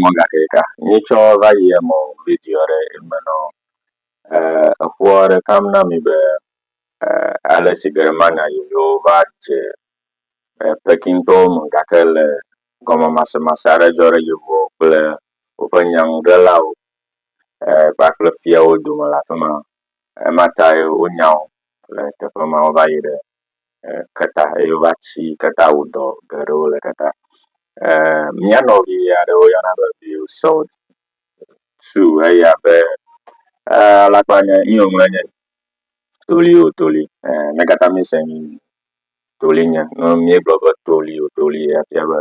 mɔ gake ka nyi tsɔ va yi emɔ video ɖe eme nɔ eƒoɔ ɖe kam na mi be ale si Germania yoyo va dze Pekintɔwo me gake le gɔmemasemase aɖe dzɔ ɖe yevuwo kple woƒe nyaŋuɖelawo kpakple fiawo dome le afi ma. Ema tae wonya wo le teƒe ma wova yi ɖe. keta eye wova tsi keta wɔ dɔ geɖewo le keta. E mía nɔvi aɖe woyɔna be Bill Salt tsu eya be e alakpa nye nu yi wòŋlɔ nye toli o toli e mega tamese nu toli nye nɔ míegblɔ be toli o toli efia be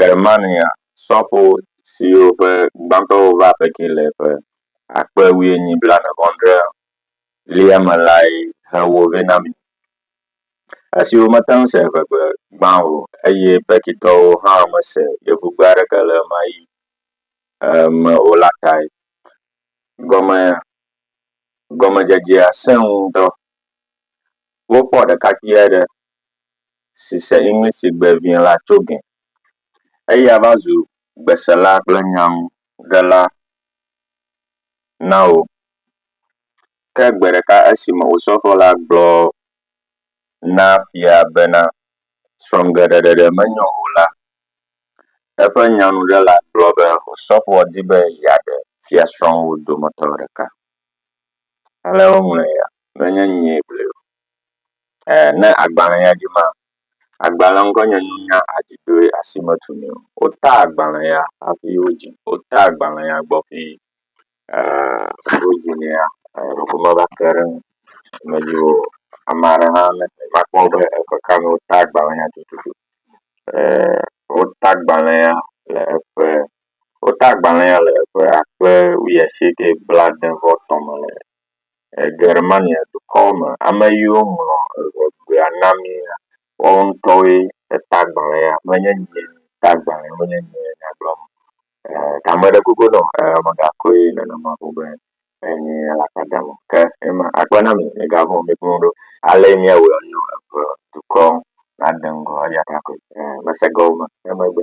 Germania sɔfo siwo ƒe gbãtɔwo va Pekin le ƒe akpe wuienyi blaene-vɔ-adre lia me lae he wo vɛ na mí. Esi womete ŋu se eŋegbe gbã o eye Pekintɔwo hã mese yevugbe aɖeke le ɣemaɣi eh, me o la tae. Gɔme, gɔmedzedzea sẽ ŋu ŋutɔ. Wokpɔ ɖekakpui aɖe si se English sigbe vɛ la tso gɛ. Eya va zu gbesela kple nyanuɖela na wo. Ke gbe ɖeka esime osɔfo la gblɔ na fia bena srɔ̃geɖeɖeɖe menyo o la, eƒe nyanuɖela gblɔ be osɔfoa di be yeaɖe fiasrɔ̃wo dometɔ ɖeka. ale woŋlɔe ya menye nyee gblɔe o. E ne agbale ya dzi ma, agbalea ŋkɔ nye nunya adziɖoe asimetu nɛ o. Wota agbale ya hafi wodzi. Wota agbale ya gbɔ ƒi e wodzi nɛ ya eɖeko meva te ɖe eŋu me dzi o. Ame aɖe hã ne eva kpɔ be eƒe ka me wota agbale ya tututu e wota agbale ya le eƒe Wota agbalẽa le ƒe akpe wuiasieke blaade-vɔ-etɔ̃ me le Germania dukɔ me. Ame yiwo ŋlɔ Eŋegbea na míea, woawo ŋutɔwoe ta agbalẽa, menye nye ta agbalẽ, menye nyee nya gblɔm o. Ee, ta meɖe kuku ne wò, ee, megakoe nenema ƒo be enye alakpa dam o. Ke ema, akpe na mi, migavɔ̃ o, miƒo nu ɖo. Alee míawɔe nɔ Eŋedukɔ nade ŋgɔ, eya ta koe. Ee, mese gɔme emegbe.